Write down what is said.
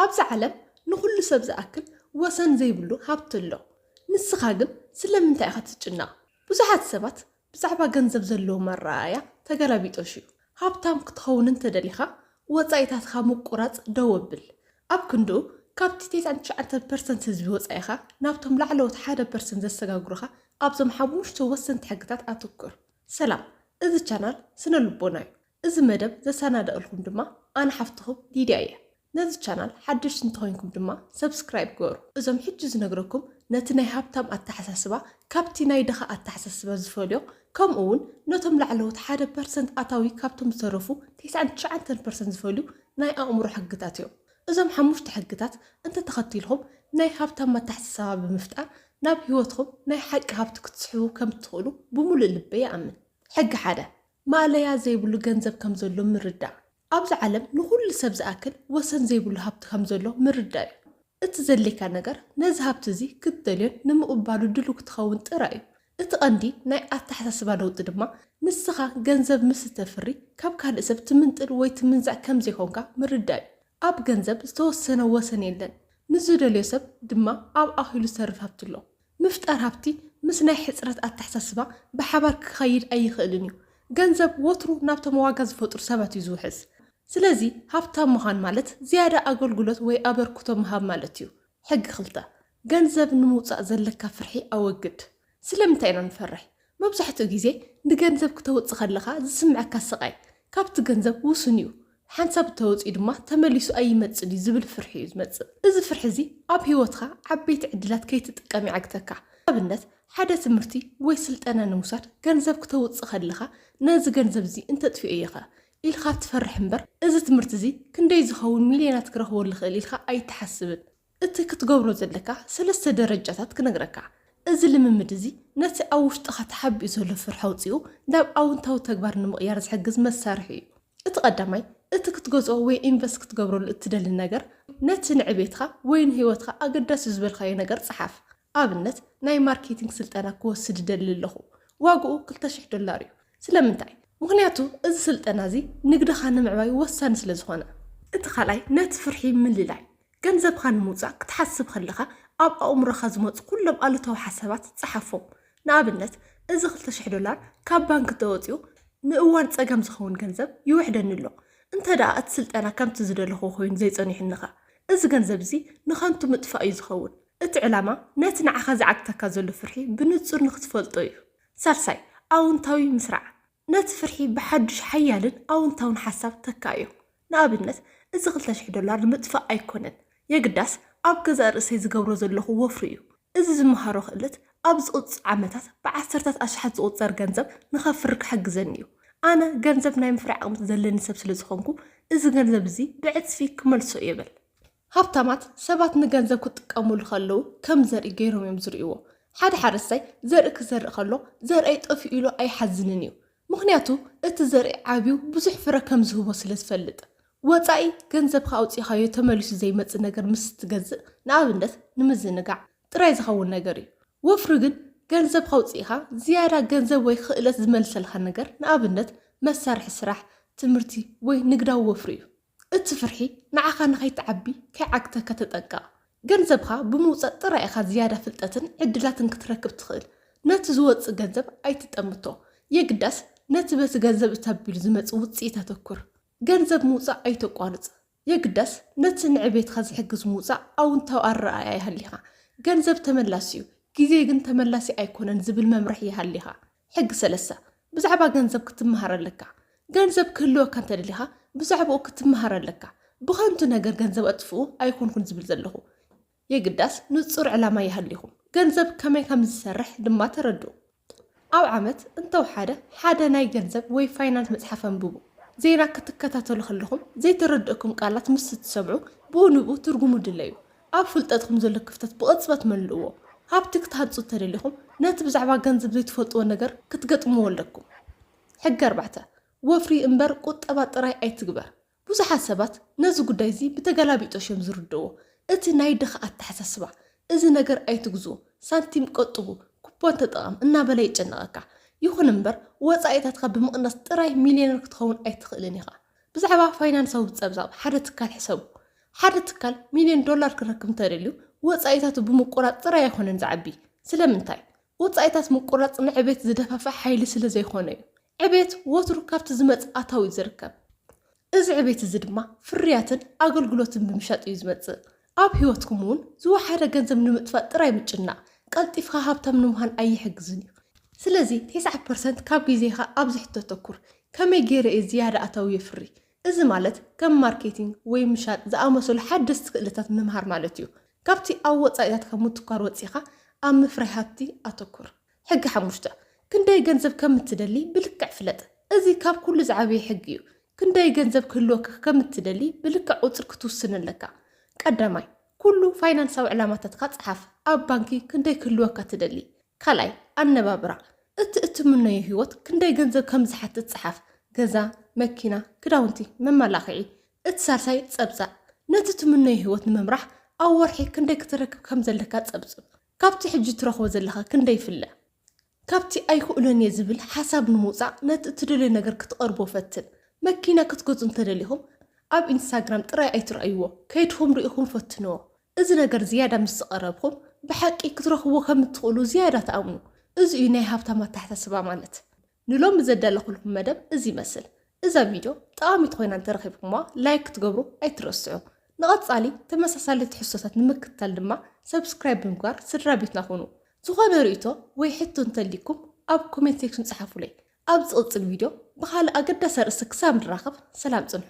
ኣብዚ ዓለም ንኹሉ ሰብ ዝኣክል ወሰን ዘይብሉ ሃብቲ ኣሎ። ንስኻ ግን ስለምንታይ ኢኻ ትጭነቕ? ብዙሓት ሰባት ብዛዕባ ገንዘብ ዘለዎም ኣረኣእያ ተገላቢጦሽ እዩ። ሃብታም ክትኸውን እንተደሊኻ ወጻኢታትካ ምቁራጽ ደው ኣብል። ኣብ ክንድኡ ካብቲ ቴስዓን ትሽዓተን ፐርሰንት ህዝቢ ወጻኢኻ ናብቶም ላዕለዎት ሓደ ፐርሰንት ዘሰጋግሩኻ ኣብዞም ሓሙሽተ ወሰንቲ ሕግታት ኣትኩር። ሰላም እዚ ቻናል ስነ ልቦና እዩ እዚ መደብ ዘሳናደእልኩም ድማ ኣነ ሓፍትኹም ሊድያ እየ ነዚ ቻናል ሓደሽቲ እንተኮይንኩም ድማ ሰብስክራይብ ግበሩ እዞም ሕጂ ዝነግረኩም ነቲ ናይ ሃብታም ኣተሓሳስባ ካብቲ ናይ ድኻ ኣተሓሳስባ ዝፈልዮ ከምኡ ውን ነቶም ላዕለዎት ሓደ ፐርሰንት ኣታዊ ካብቶም ዝተረፉ ቴስዓን ትሽዓንተን ፐርሰንት ዝፈልዩ ናይ ኣእምሮ ሕግታት እዮም እዞም ሓሙሽተ ሕግታት እንተተኸቲልኹም ናይ ሃብታም ኣተሓሳሳባ ብምፍጣር ናብ ሂወትኹም ናይ ሓቂ ሃብቲ ክትስሕቡ ከምትኽእሉ ብሙሉእ ልበይ ይኣምን ሕጊ ሓደ ማእለያ ዘይብሉ ገንዘብ ከም ዘሎ ምርዳእ። ኣብዚ ዓለም ንኹሉ ሰብ ዝኣክል ወሰን ዘይብሉ ሃብቲ ከም ዘሎ ምርዳእ እዩ። እቲ ዘድልየካ ነገር ነዚ ሃብቲ እዚ ክትደልዮን ንምቕባሉ ድሉው ክትኸውን ጥራይ እዩ። እቲ ቀንዲ ናይ ኣተሓሳስባ ለውጢ ድማ ንስኻ ገንዘብ ምስ እተፍሪ ካብ ካልእ ሰብ ትምንጥል ወይ ትምንዛዕ ከም ዘይኮንካ ምርዳእ እዩ። ኣብ ገንዘብ ዝተወሰነ ወሰን የለን። ንዝደልዮ ሰብ ድማ ኣብ ኣኺሉ ዝተርፍ ሃብቲ ኣሎ። ምፍጣር ሃብቲ ምስ ናይ ሕጽረት ኣተሓሳስባ ብሓባር ክኸይድ ኣይኽእልን እዩ። ገንዘብ ወትሩ ናብቶም ዋጋ ዝፈጥሩ ሰባት እዩ ዝውሕዝ። ስለዚ ሃብታም ምዃን ማለት ዝያዳ ኣገልግሎት ወይ ኣበርክቶ ምሃብ ማለት እዩ። ሕጊ ክልተ፣ ገንዘብ ንምውጻእ ዘለካ ፍርሒ ኣወግድ። ስለምንታይ ኢና ንፈርሕ? መብዛሕትኡ ግዜ ንገንዘብ ክተውጽ ከለኻ ዝስምዐካ ስቓይ ካብቲ ገንዘብ ውሱን እዩ። ሓንሳብ እተወጽዩ ድማ ተመሊሱ ኣይመጽን እዩ ዝብል ፍርሒ እዩ ዝመጽእ። እዚ ፍርሒ እዚ ኣብ ህይወትካ ዓበይቲ ዕድላት ከይትጥቀም ይዓግተካ። ንኣብነት ሓደ ትምህርቲ ወይ ስልጠና ንምውሳድ ገንዘብ ክተውጽ ከለኻ ነዚ ገንዘብ እዚ እንተጥፊኤዮኸ ኢልካ ትፈርሕ እምበር እዚ ትምህርቲ እዚ ክንደይ ዝኸውን ሚልዮናት ክረኽበሉ ይኽእል ኢልካ ኣይትሓስብን። እቲ ክትገብሮ ዘለካ ሰለስተ ደረጃታት ክነግረካ። እዚ ልምምድ እዚ ነቲ ኣብ ውሽጥኻ ተሓቢኡ ዘሎ ፍርሒ ኣውጺኡ ናብ ኣውንታዊ ተግባር ንምቕያር ዝሕግዝ መሳርሒ እዩ። እቲ ቀዳማይ፣ እቲ ክትገዝኦ ወይ ኢንቨስት ክትገብረሉ እትደሊ ነገር ነቲ ንዕቤትካ ወይ ንህይወትካ ኣገዳሲ'ዩ ዝበልካዮ ነገር ጽሓፍ። ኣብነት፣ ናይ ማርኬቲንግ ስልጠና ክወስድ እደሊ ኣለኹ። ዋግኡ ክልተ ሽሕ ዶላር እዩ። ስለምንታይ? ምኽንያቱ እዚ ስልጠና እዚ ንግድኻ ንምዕባይ ወሳኒ ስለዝኾነ። እቲ ካልኣይ፣ ነቲ ፍርሒ ምልላይ። ገንዘብኻ ንምውጻእ ክትሓስብ ከለኻ ኣብ ኣእምሮኻ ዝመጹ ኩሎም ኣሉታዊ ሓሳባት ጸሓፎም። ንኣብነት፣ እዚ ክልተ ሽሕ ዶላር ካብ ባንክ እንተወጺኡ ንእዋን ጸገም ዝኸውን ገንዘብ ይውሕደኒ ኣሎ። እንተድኣ እቲ ስልጠና ከምቲ ዝደለኹዎ ኮይኑ ዘይጸኒሑኒኸ? እዚ ገንዘብ እዚ ንኸንቱ ምጥፋእ እዩ ዝኸውን። እቲ ዕላማ ነቲ ንዓኻ ዝዓግተካ ዘሎ ፍርሒ ብንጹር ንኽትፈልጦ እዩ። ሳልሳይ፣ ኣውንታዊ ምስራዕ። ነቲ ፍርሒ ብሓዱሽ ሓያልን ኣውንታውን ሓሳብ ተካእዮ። ንኣብነት፣ እዚ ክልተ ሽሕ ዶላር ንምጥፋእ ኣይኮነን፣ የግዳስ ኣብ ገዛእ ርእሰይ ዝገብሮ ዘለኹ ወፍሪ እዩ። እዚ ዝመሃሮ ክእለት ኣብ ዝቕጽ ዓመታት ብዓሰርታት ኣሽሓት ዝቑጸር ገንዘብ ንኸፍሪ ክሕግዘኒ እዩ። ኣነ ገንዘብ ናይ ምፍራይ ዓቕሚ ዘለኒ ሰብ ስለ ዝኾንኩ፣ እዚ ገንዘብ እዚ ብዕጽፊ ክመልሶ እየ በል። ሃብታማት ሰባት ንገንዘብ ክጥቀሙሉ ከለዉ ከም ዘርኢ ገይሮም እዮም ዝርእይዎ። ሓደ ሓረስታይ ዘርኢ ክዘርእ ከሎ ዘርእይ ጠፊኡ ኢሉ ኣይሓዝንን እዩ። ምኽንያቱ እቲ ዘርኢ ዓብዩ ብዙሕ ፍረ ከም ዝህቦ ስለ ዝፈልጥ። ወፃኢ ገንዘብካ ኣውፂእኻዮ ተመሊሱ ዘይመፅእ ነገር ምስ እትገዝእ፣ ንኣብነት ንምዝንጋዕ፣ ጥራይ ዝኸውን ነገር እዩ። ወፍሪ ግን ገንዘብካ ኣውፂእኻ ዝያዳ ገንዘብ ወይ ኽእለት ዝመልሰልካ ነገር፣ ንኣብነት መሳርሒ ስራሕ፣ ትምህርቲ ወይ ንግዳዊ ወፍሪ እዩ። እቲ ፍርሒ ንዓኻ ንኸይትዓቢ ከይዓግተካ ተጠንቀቕ። ገንዘብኻ ብምውጻእ ጥራይ ኢኻ ዝያዳ ፍልጠትን ዕድላትን ክትረክብ ትኽእል። ነቲ ዝወጽእ ገንዘብ ኣይትጠምቶ። የግዳስ ነቲ በቲ ገንዘብ እተቢሉ ዝመጽእ ውጽኢት ኣተኩር። ገንዘብ ምውጻእ ኣይተቋርጽ። የግዳስ ነቲ ንዕቤትካ ዝሕግዝ ምውጻእ ኣውንታዊ ኣረኣእያ ይሃሊኻ። ገንዘብ ተመላሲ'ዩ፣ ግዜ ግን ተመላሲ ኣይኮነን ዝብል መምርሒ ይሃሊኻ። ሕጊ ሰለስተ፣ ብዛዕባ ገንዘብ ክትመሃር ኣለካ። ገንዘብ ክህልወካ እንተደሊኻ ብዛዕባኡ ክትመሃር ኣለካ። ብኸንቱ ነገር ገንዘብ ኣጥፍኡ ኣይኮንኩን ዝብል ዘለኹ። የግዳስ ንጹር ዕላማ ይሃሊኹም። ገንዘብ ከመይ ከም ዝሰርሕ ድማ ተረድኡ። ኣብ ዓመት እንተውሓደ ሓደ ናይ ገንዘብ ወይ ፋይናንስ መጽሓፍ ኣንብቡ። ዜና ክትከታተሉ ከለኹም ዘይተረድኡኩም ቃላት ምስ እትሰምዑ ብኡ ንብኡ ትርጉሙ ድለዩ። ኣብ ፍልጠትኩም ዘሎ ክፍተት ብቕጽበት መልእዎ። ሃብቲ ክትሃንጹ እንተደሊኹም፣ ነቲ ብዛዕባ ገንዘብ ዘይትፈልጥዎ ነገር ክትገጥምዎ ኣለኩም። ሕጊ ኣርባዕተ፣ ወፍሪ እምበር ቁጠባ ጥራይ ኣይትግበር። ብዙሓት ሰባት ነዚ ጉዳይ እዚ ብተገላቢጦሽ እዮም ዝርድእዎ። እቲ ናይ ድኻ ኣተሓሳስባ፣ እዚ ነገር ኣይትግዝኡ፣ ሳንቲም ቆጥቡ፣ ኩፖን ተጠቐም እናበለ የጨንቐካ። ይኹን እምበር፣ ወጻኢታትካ ብምቕናስ ጥራይ ሚልዮነር ክትኸውን ኣይትኽእልን ኢኻ። ብዛዕባ ፋይናንሳዊ ጸብጻብ ሓደ ትካል ሕሰቡ። ሓደ ትካል ሚልዮን ዶላር ክረክብ እንተደልዩ ወጻኢታቱ ብምቁራጽ ጥራይ ኣይኮነን ዝዓቢ። ስለምንታይ? ወጻኢታት ምቁራጽ ንዕቤት ዝደፋፍእ ሓይሊ ስለ ዘይኮነ እዩ። ዕቤት ወትሩ ካብቲ ዝመጽእ ኣታዊ እዩ ዝርከብ። እዚ ዕቤት እዚ ድማ ፍርያትን ኣገልግሎትን ብምሻጥ እዩ ዝመጽእ። ኣብ ህይወትኩም እውን ዝወሓደ ገንዘብ ንምጥፋእ ጥራይ ምጭናቕ፣ ቀልጢፍካ ሃብታም ንምዃን ኣይሕግዝን እዩ። ስለዚ፣ ቴስዓ ፐርሰንት ካብ ግዜኻ ኣብዚ ሕቶ ኣተኩር፣ ከመይ ገይረ እየ ዝያዳ ኣታዊ የፍሪ? እዚ ማለት ከም ማርኬቲንግ ወይ ምሻጥ ዝኣመሰሉ ሓደስቲ ክእለታት ምምሃር ማለት እዩ። ካብቲ ኣብ ወጻኢታትካ ምትኳር ወጺእካ ኣብ ምፍራይ ሃብቲ ኣተኩር። ሕጊ ሓሙሽተ፣ ክንደይ ገንዘብ ከም እትደሊ ብልክዕ ፍለጥ። እዚ ካብ ኩሉ ዝዓበየ ሕጊ እዩ። ክንደይ ገንዘብ ክህልወካ ከም እትደሊ ብልክዕ ቁጽሪ ክትውስን ኣለካ። ቀዳማይ፣ ኩሉ ፋይናንሳዊ ዕላማታትካ ጽሓፍ። ኣብ ባንኪ ክንደይ ክህልወካ ትደሊ? ካልኣይ፣ ኣነባብራ። እቲ እትምነዩ ህይወት ክንደይ ገንዘብ ከም ዝሓትት ጽሓፍ፣ ገዛ፣ መኪና፣ ክዳውንቲ፣ መመላኽዒ። እቲ ሳልሳይ፣ ጸብጻብ። ነቲ ትምነዩ ህይወት ንምምራሕ ኣብ ወርሒ ክንደይ ክተረክብ ከም ዘለካ ጸብጽብ። ካብቲ ሕጂ ትረኽቦ ዘለኻ ክንደይ ይፍለ? ካብቲ ኣይክእሎን እየ ዝብል ሓሳብ ንምውጻእ ነቲ እትደልዮ ነገር ክትቐርቦ ፈትን። መኪና ክትገዝኡ እንተደሊኹም ኣብ ኢንስታግራም ጥራይ ኣይትርኣይዎ፣ ከይድኩም ርኢኹም ፈትንዎ። እዚ ነገር ዝያዳ ምስ ዝቐረብኩም ብሓቂ ክትረኽብዎ ከም እትኽእሉ ዝያዳ ትኣምኑ። እዚ እዩ ናይ ሃብታም ኣተሓሳስባ ማለት። ንሎሚ ዘዳለኹልኩም መደብ እዚ ይመስል። እዛ ቪድዮ ጠቓሚት ኮይና እንተረኺብኩምዋ ላይክ ክትገብሩ ኣይትረስዑ። ንቐጻሊ ተመሳሳሊ ትሕዝቶታት ንምክትታል ድማ ሰብስክራይብ ብምግባር ስድራ ቤትና ኩኑ። ዝኾነ ርእይቶ ወይ ሕቶ እንተልይኩም ኣብ ኮሜንት ሴክሽን ጸሓፉለይ። ኣብ ዝቕጽል ቪድዮ ብኻልእ ኣገዳሲ ኣርእስቲ ክሳብ ንራኸብ ሰላም ጽንሑ።